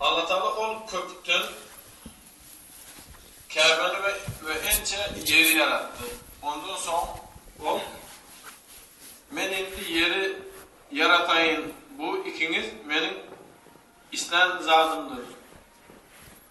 Allatagala ol köpükden Käbäni we we ençe ýeri ýaratdy. Ondan soň Ol, Men indi ýeri ýarataýyn, bu ikiňiz Meniň islän zadymdyr.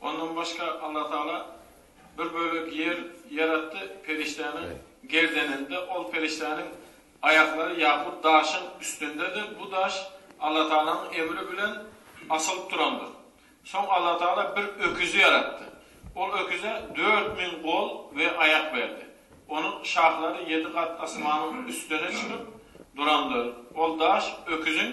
Ondan başga Allatagala bir bölek ýer ýaratdy, perişdäniň gerdeninde, ol perişdäniň aýaklary ýakut daşyň üstündedir, bu daş Allatagalanyň emri bilen asylyp durandyr. Soň Allatagala bir öküzi ýaratdy. Ol öküze dört müň gol we aýak berdi. Onuň şahlary ýedi gat asmanyň üstüne çykyp durandyr. Ol daş öküziň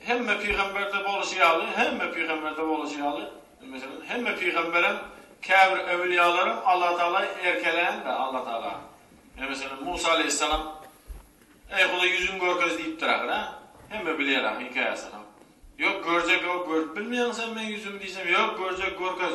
Hemme pygamberde boluşy ýaly, hemme pygamberde boluşy ýaly, meselem, hemme pygamberem, käbir öwlüýalaram Alla Taala erkeländir, Alla Taala. Ine, meselem, Musa aleýhissalam, Eý, Hudaý, ýüzüňi görkez diýipdir ahyry, a? Hemme bilýär ahyry hekaýasyny. Ýok, görjek, o, görüp bilmeýäňmi sen meň ýüzümi diýsem, Ýok, görjek, görkez.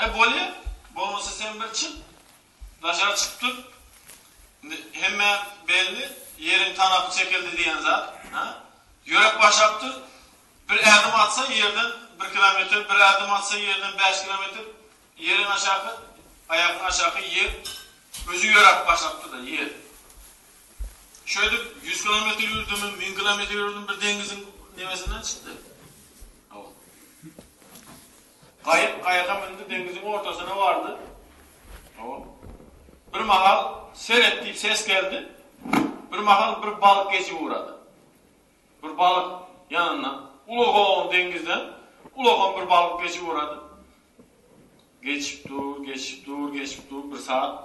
E bolýa, bolmasa sen bir çyk, daşary çykyp dur. Indi hemmä belli, ýeriň tanapy çekildi diýen zat, hä? Ýürek başlap dur. Bir ädim atsa ýerden bir kilometr, bir ädim atsa ýerden bäş kilometr, ýeriň aşaky, aýagyň aşaky ýer özi ýöräp başlap dur-da, ýer. Şeýdip, ýüz kilometr ýürdümi, müň kilometr ýürdüm, bir deňiziň nebesinden çykdy. Gaýyk gaýyga mündi, deňiziň ortasyna bardy. Bir mahal seret diýip ses geldi. Bir mahal bir balyk geçip ugrady. Bir balyk ýanyndan, ulagan deňizden, ulagan bir balyk geçip ugrady. Geçip dur, geçip dur, geçip dur, bir sagat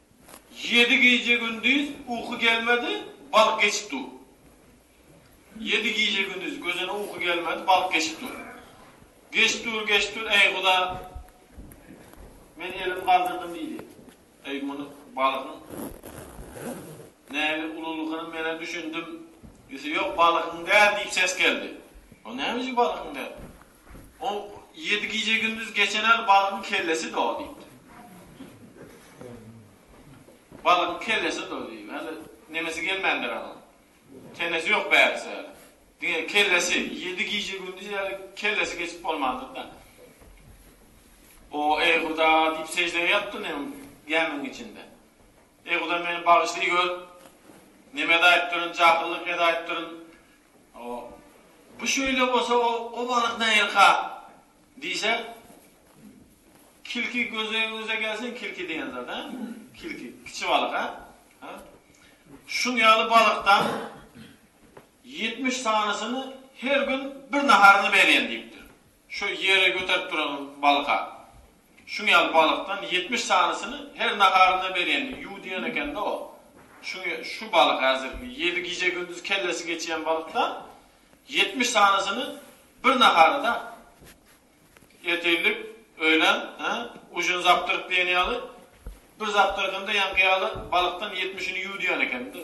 Ýedi gije-gündiz uky gelmedi, balyk geçip dur. Ýedi gije-gündiz gözüne uky gelmedi, balyk geçip dur. Geçip dur, geçip dur, Eý, Huda, men elimi galdyrdym diýdi. Eý, muny balygyň näbir ululygyny men-ä düşündim. Ýöse, Ýok, balygyň däl diýip ses geldi. Onda näme üçin balygyň däl? Ol ýedi gije-gündiz geçen al balygyň kellesi-de-o diýipdir. Balygyň kellesi-de-o diýip, häli nemesi gelmändir onuň. Tenesi ýok bärisi häli. Diňe kellesi, ýedi gije-gündiz häli kellesi geçip bolmandyr-da. O, Eý, Huda! diýip seždä ýapdy nem gämiň içinde. Eý, Huda, meni bagyşlaýgör. Neme edaýypdyryn, jahyllyk edaýypdyryn. O, Bu şeýle bolsa, o balyk nähilka? diýse, Kilki gözüňize gelsin, kilki diýen zat, a? Kilki, kiçi balyk, a? A? Şuň ýaly balykdan ýetmiş sanysyny her gün bir naharyny berýän diýipdir. Şu ýere göterip duranyň balyka. Şuň ýaly balykdan ýetmiş sanysyny her naharynda berýänini ýu diýen ekende o. Şuň şu balyk häzirki ýedi gije gündiz kellesi geçýän balykdan ýetmiş sanysyny bir naharada ertirlik, öýlen, hä, ujyny zapdyryp diýen ýaly bir zapdyrgynda ýaňky ýaly balykdan ýetmişini ýu diýen ekende.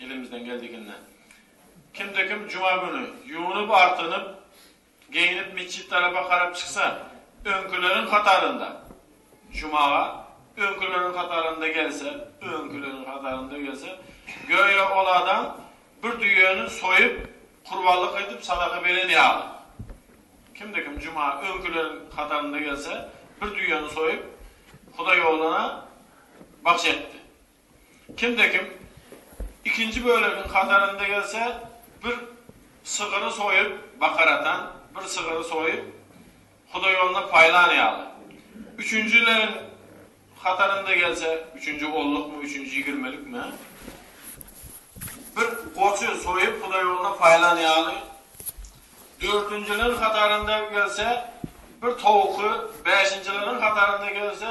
Elimizden geldikinde. Kimde-kim juma güni ýuwnup-artynyp, geýnip metjit tarapa garap çyksa, öňküleriň hatarynda, jumaga öňküleriň hatarynda gelse, öňküleriň hatarynda gelse, göýä ol adam bir düýäni soýup, kurbanlyk edip sadaka beren ýaly. Kimde-kim juma öňküleriň hatarynda gelse, bir düýäni soýup, Hudaýogluna bagyş etdi. Kimde-kim ikinji bölegiň hatarynda gelse, bir sygyry soýup, bakar atan, bir sygyry soýup, hudaýyoluna paýlan ýaly. Üçünjileriň hatarynda gelse, üçünji onlukmy, üçünji ýigirmilikmi, bir goçy soýup, hudaýyoluna paýlan ýaly. Dördünjileriň hatarynda gelse, bir towuky, bäşinjileriň hatarynda gelse,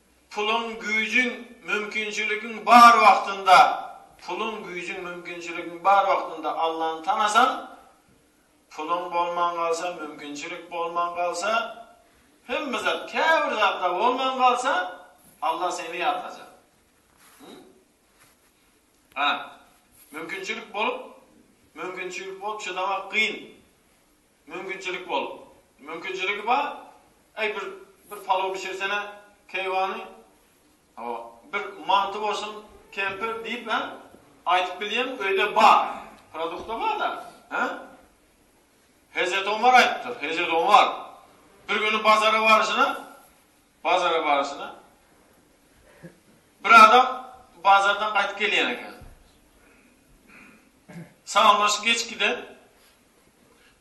Puluň, güýjüň, mümkinçiligiň bar wagtynda, puluň, güýjüň, mümkinçiligiň bar wagtynda Allany tanasaň, puluň bolman galsa, mümkinçilik bolman galsa, hemme zat, käbir zat-da bolman galsa, Alla seni ýatlajar. Hä, mümkinçilik bolup, mümkinçilik bolup çydamak kyn. Mümkinçilik bolup. Mümkinçiligi bar. Eý bir bir palaw bişirsene keýwany. Hawa. Bir manty bolsun kempir diýip hä? Aýdyp bilýän öýde bar. Produkta bar-da. Hä? Hezret Omar aýdypdyr. Hezret Omar bir güni bazara baryşyna bazara baryşyna bir adam bazardan gaýdyp gelýän eken. Salamlaşyp geç giden.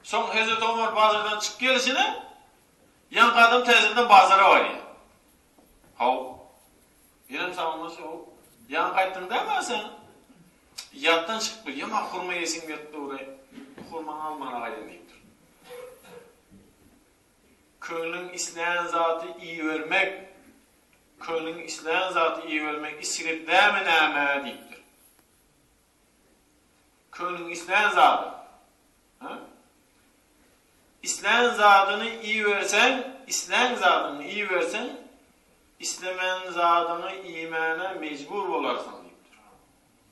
Soň Hezreti Omar bazardan çykyp gelişine, ýaňky adam täzeden bazara barýar. Haw, ýenem salamlaşýar, Haw, ýaňy gaýtdyň däl-ä sen? Ýatdan çykyp gelýän, maňa hurma iýesim gelip dur-aý, bu hurmany almana gaýdam diýipdir. Köňlüň islän zaty iýibermek, köňlüň islän zaty iýibermek isrip dämi näme? diýipdir. Köňlüň islän zady. Hä? Islän zadyňy iýiberseň, islän zadyňy iýiberseň, islemän zadyňy iýmäne mejbur bolarsyň diýipdir.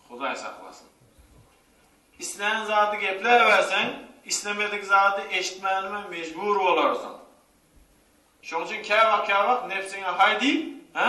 Hudaý saklasyn. Islän zady gepläberseň, islemedik zady eşitmänime mejbur bolarsyň. Şoň üçin käwagt-käwagt nebsiňe haý diýip, hä?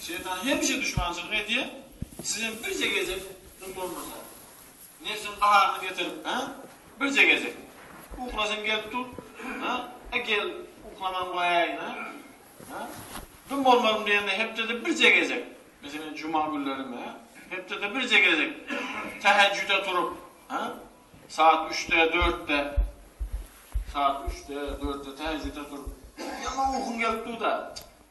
Şeýtan hemişe duşmançylyk edýär, sizem birje gezek şun bolmasa, nebsiň gaharyny getirip, hä? Birje gezek. Uklasyň gelip dur, hä? E gel, uklaman goýaýyn, hä? Hä? Dym bolmaryn diýende hepdede birje gezek, meselem juma günleri, hä? Hepdede birje gezek tähejjüde turup, hä? Saat üçde, dörtde, saat üçde, dörtde tähejjüde turup, ýaman ukyň gelip dur-da,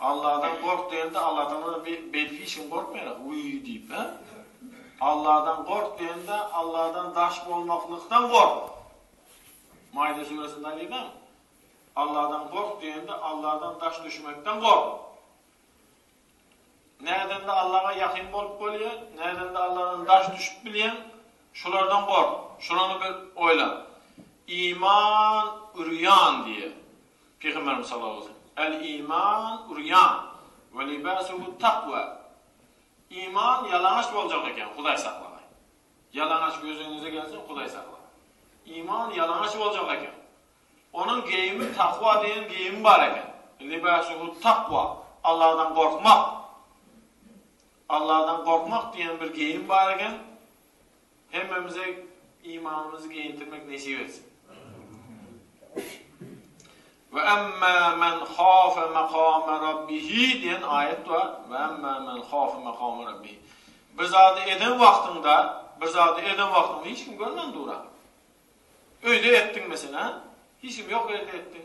Alladan gork diýende Alladan beýleki hiç kim gorkmaýar wiý diýip hä? Alladan gork diýende Alladan daş bolmaklykdan gork. Maýda süresinde aýdylýan. Alladan gork diýende Alladan daş düşmekden gork. Nädende Allaga ýakyn bolup bolýar, nädende Alladan daş düşüp bilýär. Şulardan gork. Şulany bir oýlan. Iman ürýan diýe. Pygamberimiz sallallahu aleýhi we sellem, El iman urýan we libasuhu takwa, Iman ýalaňaç boljak eken, Hudaý saklagay. Ýalaňaç gözüňize gelsin, Hudaý saklagay. Iman ýalaňaç boljak eken. Onuň geýimi takwa diýen geýimi bar eken. Libasuhu takwa, Allahdan gorkmak. Allahdan gorkmak diýen bir geýim bar eken. Hemmemize imanymyzy geýindirmek nesip etsin. Ve emmâ men khâfe makâme rabbihi diýen aýat bar. Ve emmâ men khâfe makâme rabbihi. Bir zady eden wagtyňda, bir zady eden wagtyňda hiç kim görmän dura. Öýde etdiň meselem, hiç kim ýok ýerde etdiň.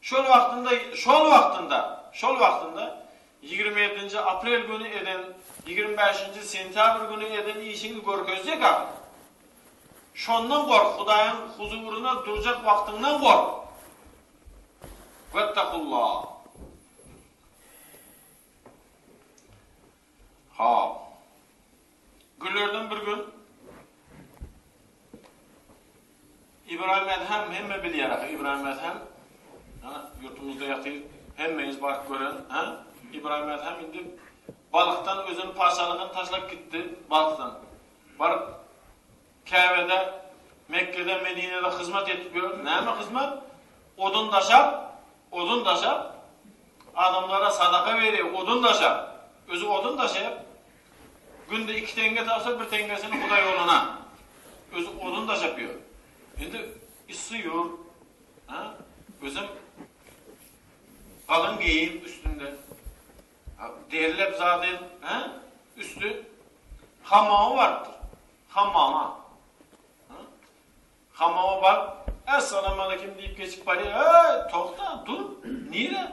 Şol wagtynda, şol wagtynda, şol wagtynda ýigrimi ýedinji aprel güni eden, ýigrimi bäşinji sentýabr güni eden işiňi görkezjek ahyry. Şondan gork, Hudaýyň huzuryna durjak wagtyňdan gork. Wettakullah. Hop. Günlerden bir gün Ibrahim Edhem hemme bilýär, Ibrahim Edhem ýurtumyzda ýatyr, hemmeňiz baryp gören, ha? Ibrahim Edhem indi Balykdan özüni paşalygyny taşlap gitdi, Balykdan. Baryp Käbede, Mekgede, Medinede hyzmat edip ýör. Näme hyzmat? Odun daşap, odun daşap, adamlara sadaka berýär, odun daşap. Özü odun daşap, Günde iki teňňe tapsa bir teňňesini hudaýoglana özi odun daşap ýör. Indi yssy ýurt, ha? Özem galyň geýim üstünde. Ha, derlep zady, ha? Üsti hamama barypdyr. Hamama. Ha? Hamama baryp, "Assalamu alaykum" diýip geçip barýar. "Ey, togta, dur. Nire?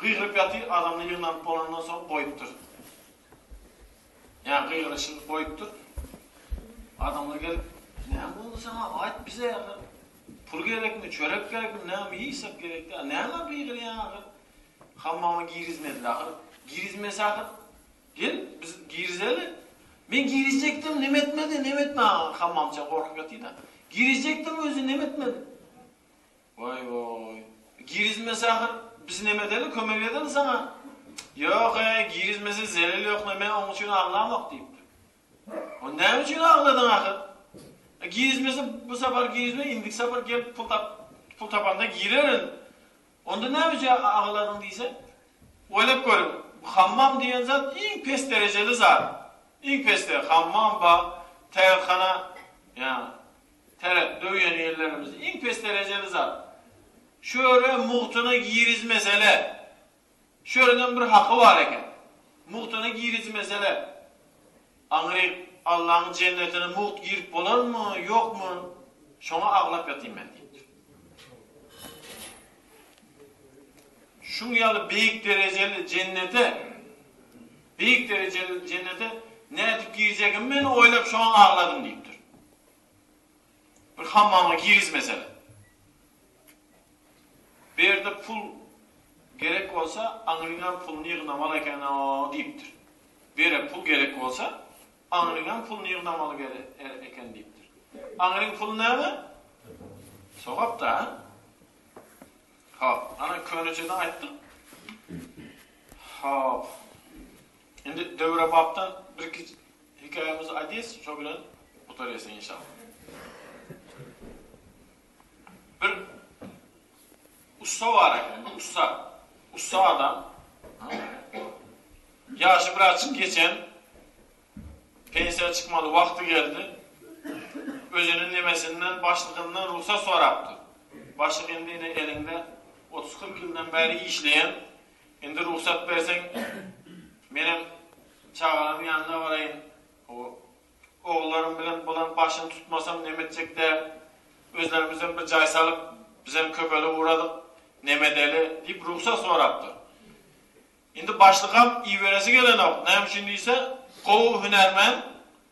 Gygyryp ýatyr, adamlar ýygnanyp bolandan soň goýupdyr. Ýa gygyryşyny goýupdyr. Adamlar gelip, Näme boldy saňa? Aýt bize ahyr. Pul gerekmi, çörek gerekmi, näme iýsek gerekdi. A näme gygyrýaň ahyr? Hammama girizmediler ahyr. Girizmese ahyr, gel, biz girizeli. Men girizjekdim, neme etmedi, neme etmedi. Hammamça gorkup ýatyr-da. Girizjekdim, özi neme etmedi. Waý waý. Girizmese ahyr biz neme edeli kömek edeli saňa. Ýok eý girizmese zelel ýok neme oň üçin aglamok diýipdir. Onda näme üçin agladyň ahyr. E girizmese bu sapar girizme indiki sapar gelip pul tap pul tapanda girerin. Onda näme üçin agladyň diýse. Oýlap görüň bu hammam diýen zat iň pes derejeli zat. Iň pesde hammam bar, tärzhana ýa Täret döwýän ýerlerimiz iň pes derejeli zat. Şöre mugtuna girizmesele. Şörenem bir haky bar eken. Mugtuna girizmesele. Aňryk Allaň jennetine mugt girip bolarmy, ýokmy? Şoňa aglap ýatyn men diýipdir. Şuň ýaly beýik derejeli jennete, beýik derejeli jennete nädip girjegimi men oýlap şoňa agladym diýipdir. Bir hammama girizmesene. Bu ýerde pul gerek bolsa, aňryňam puluny ýygnamaly eken-ow diýipdir. Bu ýere pul gerek bolsa, aňryňam puluny ýygnamaly eken diýipdir. Aňryň puly näme? Sogap-da. Hop, ana köneçede aýtdyk. Hop. Indi döwrebapdan birki Hikaýamyz Adis şo bilen gutaryasyn inşallah. Bir ussa bar eken, bir ussa. Ussa adam. Ýaşy birazçyk geçen, pensiýa çykmaly wagty geldi. Özüniň nemesinden, başlygyndan rugsat sorapdyr. Başlyk indi ine eliňde otuz-kyrk ýyldan bäri işleýän, Indi rugsat berseň, menem çagalarymyň ýanyna baraýyn. Ogullarym bilen bulan başyny tutmasam neme etjek däl. Özlerimizem bir jaý salyp, bizem köpelip ugradyk, neme edeli? diýip rugsat sorapdyr. Indi başlykam iberesi gelenok. Näme üçin diýse, gowy hünärmen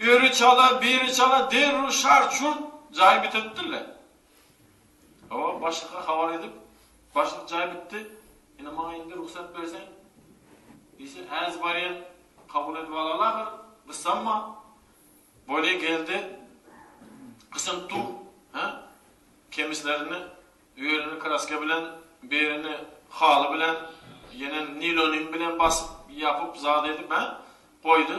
Öri çala, biri çala derrew şart-şurt jaý bitirtdirler. Hawa, başlyga habar edip, başlyk jaý bitdi, ine maňa indi rugsat berseň diýse, häzi barýan, kabul edip alaly ahyr, gyssanma. Boli geldi, gysynyp dur, hä? Kemislerini, örini kraska bilen, birini haly bilen, ýene nilonim bilen basyp, ýapyp, zat edip, hä? Goýdy.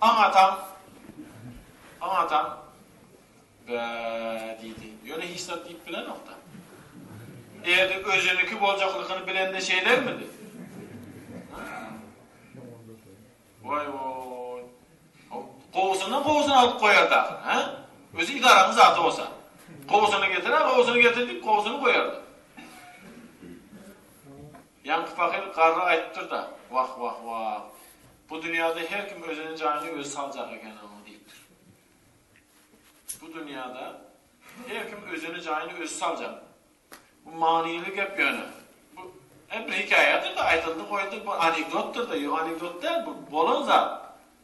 Aň atam, aň atam, Bä! diýdi. Ýöne hiç zat diýip bilenok-da. Eger-de özüniki boljaklygyny bilende şeýlermidi? Waý-oý! Gowusyndan gowusyny alyp goýardy ahyry, hä? Özi idaranyň zady bolsa. Gowusyny getir-ä, gowusyny getir diýip, gowusyny goýardy. Ýaňky pahyr garry aýypdyr-da, Wah-wah-wah! Bu dünýäde her kim özüniň jaýyny özi saljak eken-ow! diýipdir. Bu dünýäde her kim özüniň jaýyny özi saljak. Bu manyly gep ýöne. Bu hem bir hekaýadyr-da, aýdyldy-goýuldy, bir anekdotdyr-da, ýok anekdot däl, bu bolan zat.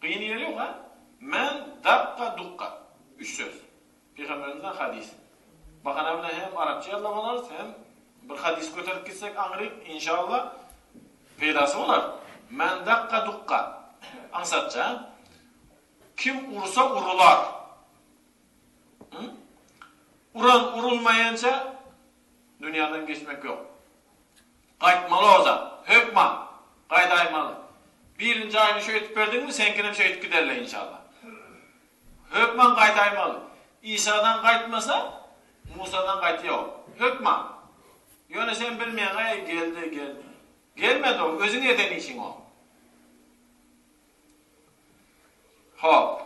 Gyny gelýoka men dakga dukga üç söz. Pygamberimizden hadys. Bahana bilen hem arapça ýazlap alarys hem bir hadys göterip gitsek aňryk inşallah peýdasy bolar. Men dakga dukga aňsatja kim ursa urular. Hum? Uran urulmaýança dünýäden geçmek ýok. Gaýtmaly ozal. Hökman. Gaýdaýmaly. Birinji aýyny şeýdip berdiňmi, seňkinem şeýdip giderle inşallah. Hökman gaýdaýmaly. Isadan gaýtmasa, Musadan gaýt ýok. Hökman. Ýöne sen bilmeýäň-eý, geldi, gelmedi. Gelmedi o, özüň eden işiň o. Hop.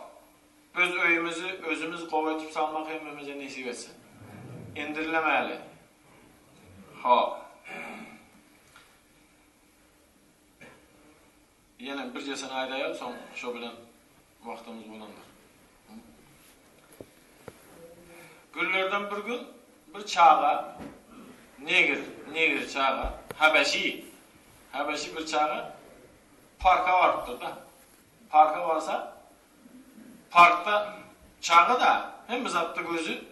Öz öýümizi özümiz gowy etip salmak hemmemize nesip etsin. Indirilemäli. Hop. Ýene birjesini aýdaýaly, soň şo bilen wagtymyz bolandyr. Günlerden bir gün bir çaga negr, negr çaga, habeşi, habeşi bir çaga Parka barypdyr da. Parka barsa parkda çaga da hemme zatda gözi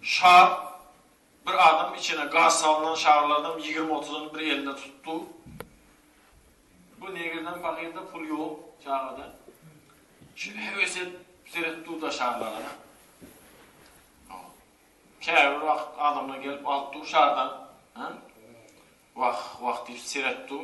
şar bir adam içine gaz salynan şarlardan ýigrimi otuzany bir elinde tutup dur. Bu negirden pakirde pul ýok çagada. Şeýle heves edip seretip dur da şarlara. Käbir wagt adamlar gelip alyp dur şardan. Wah wah diýip seretip dur.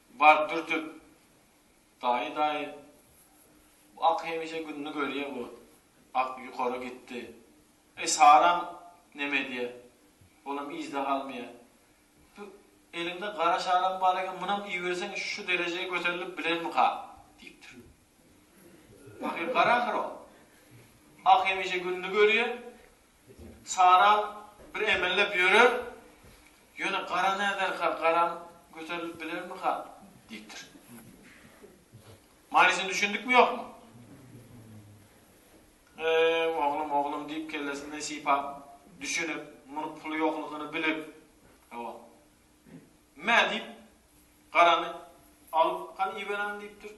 Bar dürtüp, Daýy, daýy, bu ak hemişe gününi görýä bu. Ak ýukara gitdi. Eý Saram neme edýä? Olam yzda galmaýa. Bu eliňde gara şaram bar eken, munam iýiberseň şu derejä göterilip bilermika? diýipdir. Pahyr gara ahyr ol. Ak hemişe gününi görýä. Sara bir emellep ýörer, ýöne gara näderka, garam göterilip bilermika? diýipdir. Manysyny düşündikmi-ýokmy? Eý, oglum, oglum diýip, kellesinden sypap, düşünip, munuň puly ýoklugyny bilip, hawa, mä diýip, garany alyp, hany iberäýiň diýipdir.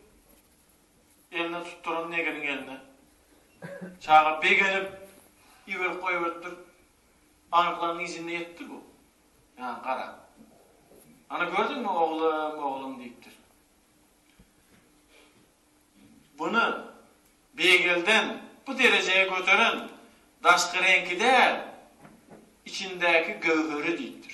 eline tutduran neginiň eline. Çaga begenip, iberip goýberipdir. Bankalaryň yzynda ýetdi bu. Ýa, gara. Ana gördüňmi, oglum, oglum diýipdir. Buny beýgelden bu derejä göteren daşky reňki däl, içindäki göwheri diýipdir.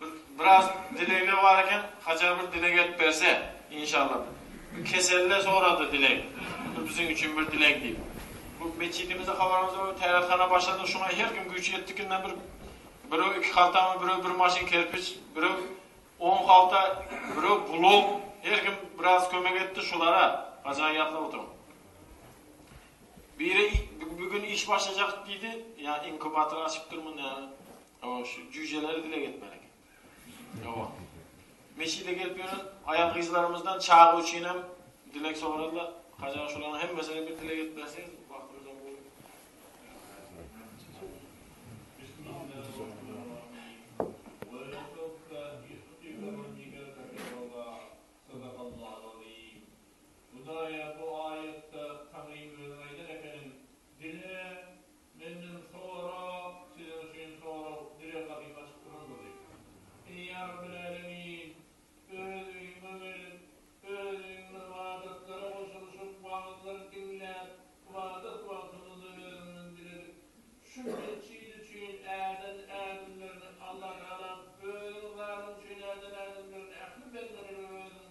Bir biraz dilegler bar eken haçan bir dileg edip berse inşallah bir keselle sorady dileg bir biziň üçin bir dileg diýip bu metjidimizde habarymyz bar tärathana başladyk şuňa her kim güýç ýetdikinden bir birew iki haltamy birew bir maşyn kerpiç birew on halta birew bulok her kim biraz kömek etdi şulara haçan ýatlap oturyň biri bugün iş başlajak diýdi ýa inkubator açypdyrmyň näme. Hawa şu jüýjeleri dile getmeli eken. Hawa. Meçide gelip ýören aýal gyzlarymyzdan çaga üçin hem dilek soradylar. Haja şolaryň hemmesine bir dilek edip berseňiz, wagtymyzdan bu. Hudaýa bu aýatda Taňryň özi aýdan ekeniň, dine Menden sora, sizden şuny sora, birer gapymy açyp duran boldy. Eý ýa Rabbil Älemin! Öz öýüňe gelip, öz öýüňde ybadatlara goşulyşyp, wagyzlar diňläp, ybadat wagtymyzda özüňden diledik. Şu metjit üçin äden ädimlerini, Allatagalam, özüň zadyň üçin äden ädimlerini ähli bendelere özüň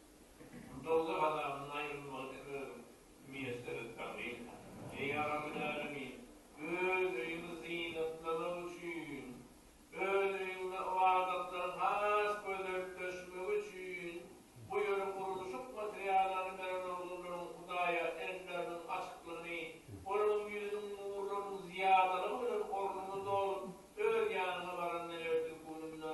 Bu dowzah azabyndan aýrylmagy siz özüňiz miýesserit baglyň. Eý, Rabbilälemin! Öz öýüňi zynatlamak üçin, Öz öýüňde ybadatlaryň has gözeltleşmegi üçin bu ýeri gurluşyk materiallaryny beren oglanlaryň Hudaýa elleriniň açyklygyny, Onuň ýüzüniň nurlarynyň zyýadalygy bilen ornuňy dolup, öz ýanyňa baranda ertir gününde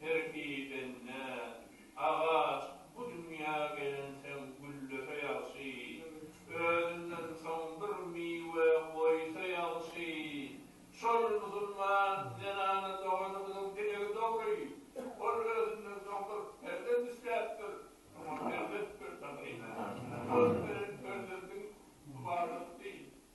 Serpibende, Agaç bu dünýä gelensoň güllese ýagşy, özünden soň bir miwe goýsa ýagşy. Şol musulman zenana doganymyzyň dilegi dogry. Ol özünden soň bir perzent isläpdir. Şoňa perzent berseň, eýmenä. Şol perzentiň ybadatdy.